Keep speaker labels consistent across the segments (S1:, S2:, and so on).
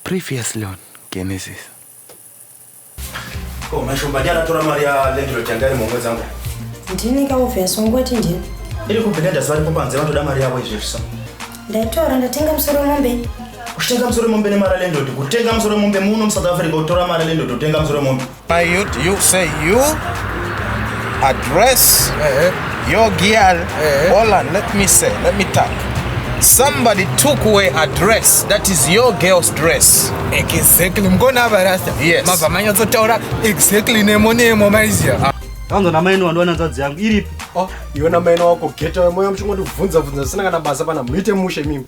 S1: Previously on Genesis. Ko mashomba ndiye anatora mari ya landlord yanga iri mumwedzi wangu. Ndini ka obvious ungoti ndini. Iri kubhenda ndaziva ripo panze vanotoda mari yavo izvezvi so. Ndaitora ndatenga musoro wemombe. Kutenga musoro wemombe nemari ya landlord. Kutenga musoro wemombe muno muSouth Africa utora mari ya landlord utenga musoro wemombe. My youth, you say you address uh-huh. your girl. Uh-huh. Hold on, let me say, let me talk. Somebody took away a dress that is your girl's dress. Exactly. Mkona hapa rasta. Yes. Mava manyo zotaura exactly nemo nemo maizia. Ah. Kwanza na maino wandu wananzazi yangu. Iripi. Oh, iwe na maino wako geta. Moyo mchungo tu vunza vunza. Sina kana basa pana. Mwite mushe mimi.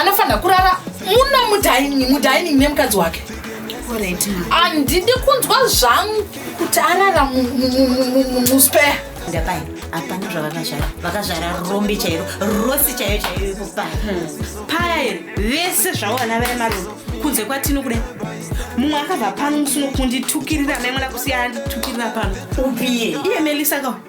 S1: anofanira kurara muno mudining mudining nemukadzi wake handidi kunzwa zvangu kuti arara muspare ndapai hapana zvavakazvara vakazvara rombe chairo rosi chaiyo chaiyo ipo paya hmm. paya iri vese zvawana vaya marombe kunze kwatino kudai mumwe akabva pano musuno kunditukirira maimona kusiyana nditukirira pano upiye iye melisa kawa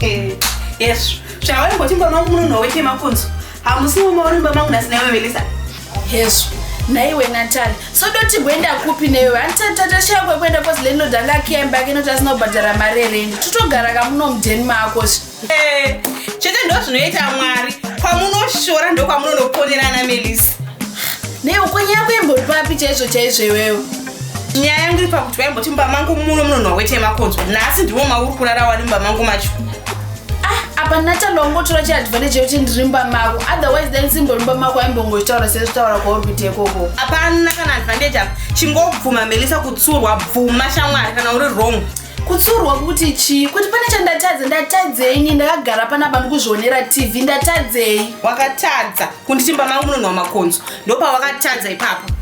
S1: Eh, yes zvawari ngoti mba mangu munonhuwa wete makunzo hamusi mumwe uri mba mangu nhasi naiwe melisa hezvo naiwe natali sodoti kuenda kupi newe handitatashaya kwekuenda kozi lendodanga akiya imba yake inoti asina kubhadhara mari erendi totogara kamuno mudheni mako Eh, chete ndo zvinoita mwari kwamunoshora ndokwamunonoponerana melisa ne ukonyi yako imbori papi chaizvo chaizvo iwewo nyaya yangu iri pakuti vaimboti mumba mangu muno munonhuwa wete yemakonzo nhasi ndimo mauri kurara wani mumba mangu macho ah, apa natanda wangotora chiadvantage yekuti ndiri mumba mako otherwise then simbori mumba mako aimbongochitaura sezvitaura kwaorbite ikoko hapana kana advantage apa chingobvuma melisa kutsurwa bvuma shamwari kana uri wrong kutsurwa kuti chii kuti pane chandatadza ndatadzei ni ndakagara panapa ndikuzvionera tv ndatadzei wakatadza kunditimba mangu munonhuwa makonzo ndopawakatadza ipapo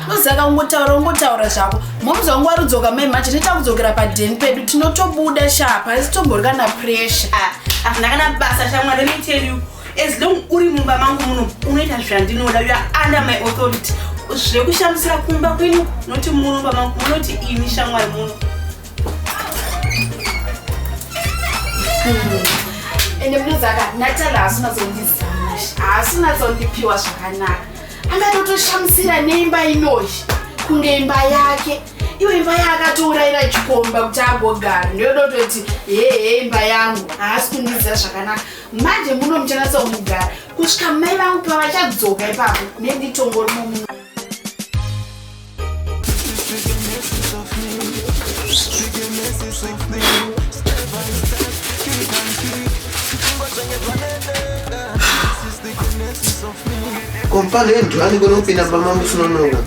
S1: nozaka ungotaura ungotaura zvako momzi wangu warudzoka mai manje neta kudzokera padeni pedu tinotobuda shapa asi tomborwa na pressure ah, ah, ndakana basa shamwari let me tell you as long uri mumba mangu muno unoita zvandinoda uya under my authority zvekushamisira kumba kwenu noti muno pama munoti ini shamwari muno hmm. ende munozaka natala haasi unatsondizama haasi unatsondipiwa zvakanaka angatotoshamisira neimba inoyi kunge imba yake iyo imba yaakatouraira chikomba kuti agogara ndoyodototi hehe imba yangu haasi kundiziva zvakanaka manje muno muchanatsaumugara kusvika mai vangu pavachadzoka ipapo nenditongo rimo muno kompale ndwani kunopinda pamambo sinonoka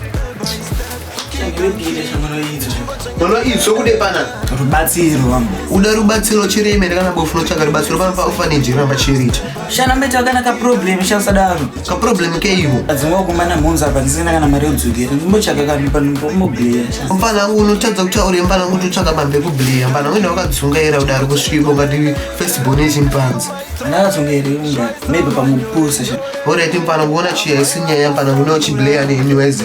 S1: mwana idzo kude pana rubatsiro vangu uda rubatsiro chiri imene kana bofu lotsvaga rubatsiro panopa ofanage kana machiriti shana mbeta kana kaproblem shasadaro kaproblem keivo adzingwa kumana mhunzi apa ndisina kana mari yodzokera ndimbotsvaga kanhu panombobleya mfana wangu unotadza kutaura mfana wangu totsvaga pambi ekubleya mfana wangu ndawakadzungaira kuti ari kusviko ngati festibon yechimpanzi ndakatsongaira maybe pamupusa sha orit mfana wangu ona chiya isinyaya mfana wangu unauchibleya nehimiwaize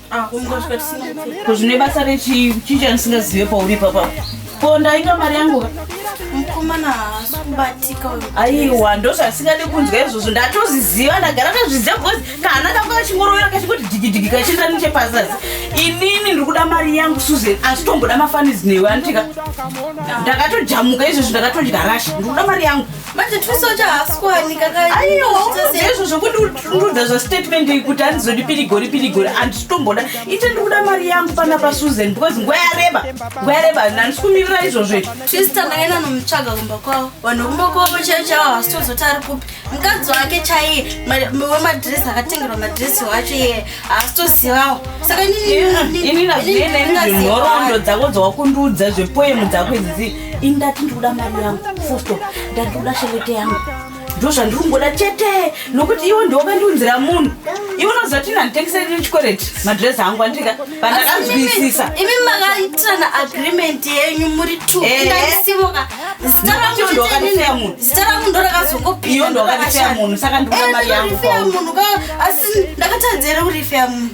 S1: Ah, ko zvine basa rechii chii chandisingazive pauri ipapa ko ndainga mari yangu mukomana haasi kubatika aiwa ndozvasingadi kunzwa izvozvo ndatozviziva ndagara ndazviziva because kana kanga kachingorovera kachingoti digidigi kachienda nechepazasi inini ndiri kuda mari yangu susan asi tomboda mafanizi newe anditika ndakatojamuka izvozvo ndakatodya rasha ndiri kuda mari yangu manje tusocha haasikwane kakaizvo zvokundudza zvastatement iyi kuti handizodi pirigori pirigori handisitomboda ite ndiri kuda mari yangu pana pasusan because nguva yareba nguva yareba handisi kumirira izvozvo izvo twista ndaenda nomutsvaga kumba kwavo vanhu kumba kwavo chaiyo chaivo havasitozoti ari kupi mukadzi wake chaiye wemadresi akatengerwa madresi wacho iye haasitozivawo saka inini ndazvinhorondo dzako dzawakundudza zvepoemu dzako idzidzii ini ndati ndiri kuda mari yangu fusto ndati ndiri kuda shelete yangu ndo zvandiri kungoda chete nokuti iwe ndiwokandiunzira munhu iwe unoziva kuti ndanditengeserei chikwereti madress angu andika pandakanzwisisa imi makaitirana agreement yenyu muri two Eh. ndandisimuka zita rangu Nokuti ndiwe wakandifeya chete munhu. zita rangu ndo rakazongopinda Iwe ndiwe wakandifeya munhu, saka ndikuda mari yangu munhu ka asi ndakatadzera kurifeya munhu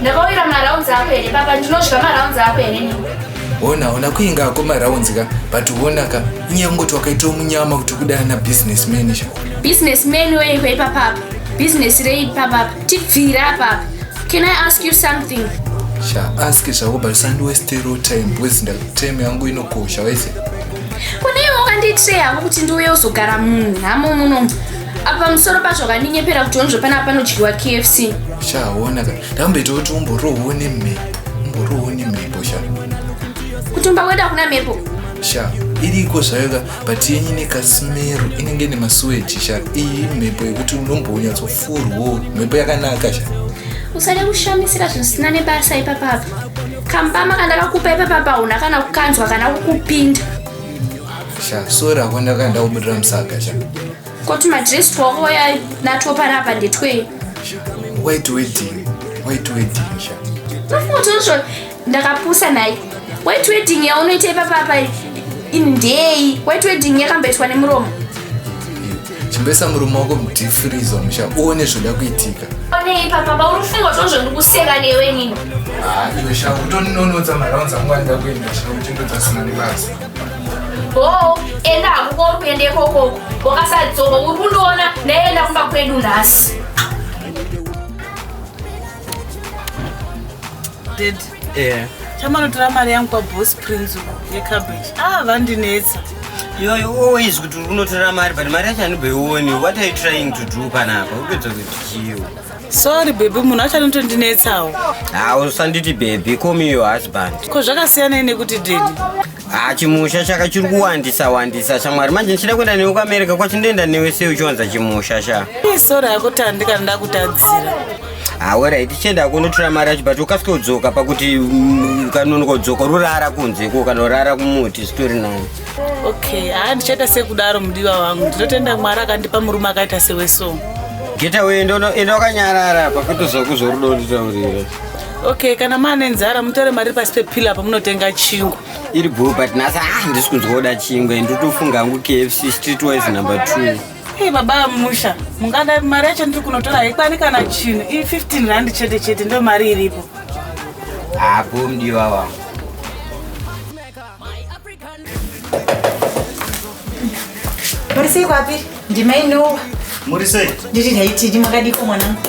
S1: ndakauyira marounds ako here papa ndinodya marounds ako here ne hona hona kuinga ako marounds ka but hona ka inyaya kungoti wakaitawo munyama kuti kudana na business manager business man weiko ipapapa business rei papapa tibvira apapa can i ask you something sha ask zvako but usandiwestero time because time yangu inokosha wese kune iwe wakanditreya kuti ndiuye uzogara munhu hamo munomu apa pamusoro pazvo kandinyepera kuti onzvo panapa panodyiwa kfc chaona ka ndakamboita kuti umborohwo nemhepo umborohwo nemhepo sha kutumba kwedu hakuna mhepo sha iriko zvayo ka but yenyu ine kasimero inenge nemasuweji sha iyi mhepo yekuti unombonyatsofurwo mhepo yakanaka sha usade kushamisira zvisina nebasa ipapapa kambama kandakakupa ipapapa hauna kana kukanzwa kana kukupinda sha sora ko ndakaenda kubudira musaga sha koti madress twako waya natwo parapa ndetwei wait wedding wait wedding sha nofutozo ndakapusa naye wait wedding yaunoita ipapapa indei wait wedding yakamboitwa nemuromo chimbesa murume wako mudifriza musha uone zvoda kuitika one ipapa paunofunga tozvo ndikuseka newe nini iwe sha utoninonoza maraunza nguva ndida kuenda sha uchindodzasina nebasa bhoo enda hakuko uri kuenda ikoko wakasadzoka uri kundiona ndaenda kumba kwedu nhasi chamanotora mari yangu kwabos prince yecabbage ah vandinetsa yoyo always kuti uri kunotora mari but mari yacho anibheioni what are you trying to do panapa upedza kuti chiwo sorry bhebhi munhu acho anotondinetsawo ha usanditi bhebhi komi yo husband ko zvakasiyanei nekuti dedi ha chimusha chaka chiri kuwandisa wandisa shamwari manje ndichida kuenda newe kuamerica kwacho ndoenda newe sei uchiwanza chimusha sha sorry yako tandi kana ndakutadzira hawera tichienda kunotora mari yacho but ukasike kudzoka pakuti mm, kanonokodzoka rurara kunze ko kanorara kumuti zvitori nani okay haa ndichaita sekudaro mudiwa wangu ndinotenda mwari akandipa murume akaita sewe so geta wee ndoenda wakanyarara pakutozokuzwa rudo nditaurire okay kana maane nzara mutore mari pasi pepila pamunotenga chingwa iri bhuu but nhasi a ah, ndisi kunzwa kuda chingwa and ndotofunga hangu kfc street wise number two Hey, baba musha mungada mari yacho ndiri kunotora haikwani kana chinhu i 15 rand chete chete ndo mari iripo hapo ah, mdiwa wangu muri sei kwapi ndimai nowa muri sei ndiri haitidi makadiko mwanangu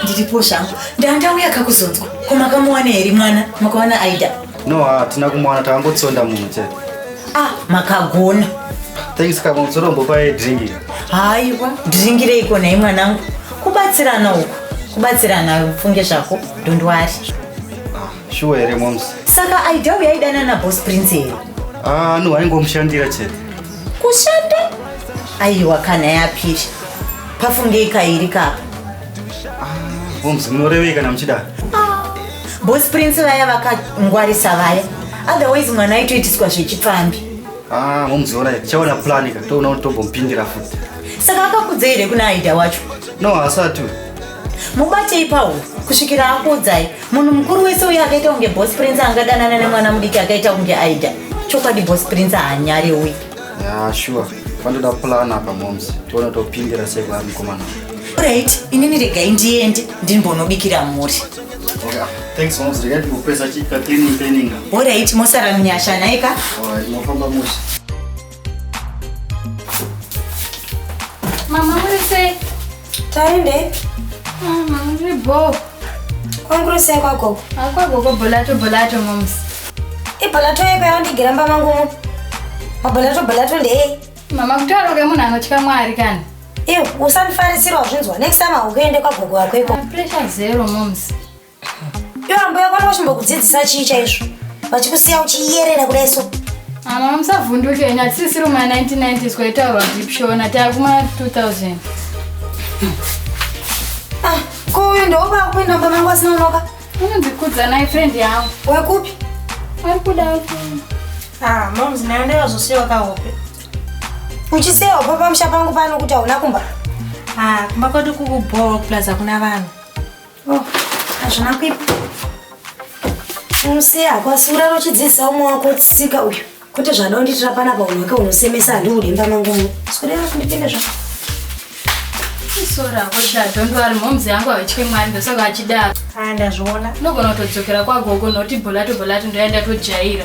S1: ndiripo zvangu ndandauya kakuzonzwa ko makamuwana here mwana makawana aida no hatina kumuwana takangotsonda munhu chete ah makagona thanks kama uzotombopaye dringi haiwa dringireiko nhai mwanangu kubatsirana uku kubatsirana ufunge zvako dondwari ah. shuwa here moms saka aida uya aidana nabos prince here ah no aingomushandira chete kushanda aiwa kana yapisha pafungei kairi kapa moms munorevei kana muchidaro bos prince vaya vakangwarisa vaya otherwise mwana aitoitiswa zvechipfambi ah moms orai tichaona plan ka toona kuti tombomupindira futi saka akakudzei here kuna aida wacho no haasati uyu mubatei pawo kusvikira akuudzai munhu mukuru wese uye akaita kunge bos prince angadanana nemwana mudiki akaita kunge aida chokwadi bos prince haanyari uyu ya sure vanotoda plan apa moms tione topindira sei kwaari mukomana right inini regai ndiende ndinbonobikira mhuri okay. Ah, thanks moms regai ndikupesa chika cleaning cleaning orit mosara munyasha naika orit mofamba musi Mama muri sei? Taende. Ah, mama muri bho. Kwanguri sei kwagogo? Ah, kwagogo bolato bolato moms. Ibolato yeko yawandigira mba mangu mu. Mabolato bolato ndei. Mama kutaura kwemunhu anotya Mwari kana. Iwe usandifarisira wazvinzwa. Next time haukuende kwagogo wako iko. Ah, pressure zero moms. Iwe ambuya kwani vachimbokudzidzisa chii chaizvo? Vachikusiya uchiyerera kudai so. Mama musavhunduke henyu hatisisiri muma 1990 zvaitaurwa deep shona taakuma 2000. Ah, ko uyu ndooba kuenda mumba mangu asina unoka? Unondikudza naye friend yangu. Wekupi? Ari kuda Ah, moms nayo ndayozosiwa kahope. Uchisiya hope pamusha pangu pano kuti hauna kumba? Ah, kumba kwedu kukubhowa plus hakuna vanhu. Oh, hazvina kuipa. Unoseya hako asi uraro uchidzidzisa umwe wako tsika uyu. Kwete zvada undiitira panapa unhu wake unosemesa handiudi imba mangu uno. Sikudera kundipinda zvako. Isora hako sha, don't worry, momzi yangu havachike mwari ndosaka vachidaro. Ah, ndazviona. Unogona kutodzokera kwagogo noti bholato bholato ndoya ndatojaira.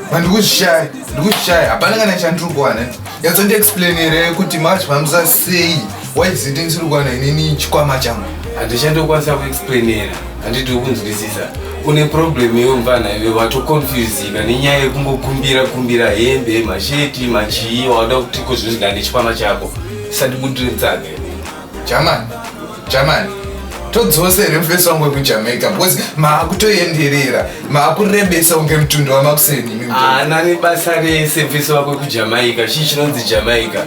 S1: Ndikuzvishaya, ndikuzvishaya. Hapana kana chandiri kuwana. Yadzo ndi explain here kuti manje pamisa sei. Why is it ndisiri kuwana inini chikwama changu? Handichandokwanisa kuexplainera. Handidi kunzwisisa. Une problem iyo mvana iwe wato confusika nenyaya yekungokumbira kumbira hembe, masheti, machii wada kuti kozvinzi ndane chikwama chako. Sandikuti tsage. Jamani. Jamani, todzose here mufesi wangu wekujamaica because maakutoenderera maakurebesa unge mutundo wamakuseni imi mutoro. haana nebasa rese mfesi wako wekujamaica chii chinonzi jamaica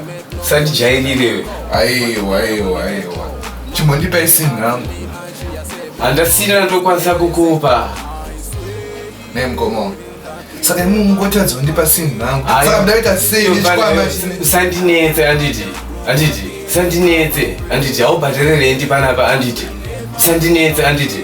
S1: sandijairirewe aiwa aiwa aiwa chimbondipai sinhangu handasina ndokwanisa kukupa ne mkomo saka imwe mungotadza kundipa sinhi rangu saka ndaita sei nechikwama usandinetse anditi anditi usandinetse anditi haubhadhererei ndi panapa anditi usandinetse anditi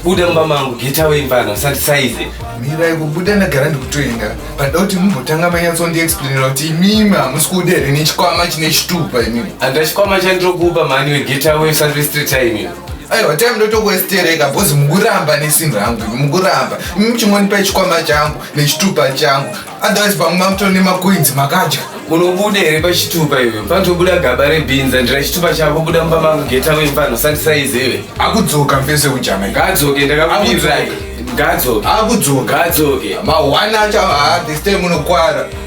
S1: buda mumba mangu get away mfana usandisaize mirai kubuda ndagara ndikutoenda pandoda kuti mumbotanga manyatsondiexplainira kuti imimi hamusi kuda here nechikwama chine chitupa imimi andachikwama chandirokupa mani wegetawe usandirestreta imimi aiwa time ndotokuestereka bhozi mukuramba nesinhu rangu mukuramba muchingonipa ichikwama changu nechitupa changu otherwise pamwe mamuto nemacoins makadya unobuda here pachitupa iwe panotobuda gaba rebhinza ndira chitupa chako buda mumba mangu geta wemfano sandisaizive akudzoka mfese kujama ngaadzoke ndakakubirai ngaadzoke akudzoka ngaadzoke mawana acho haa this time unokwara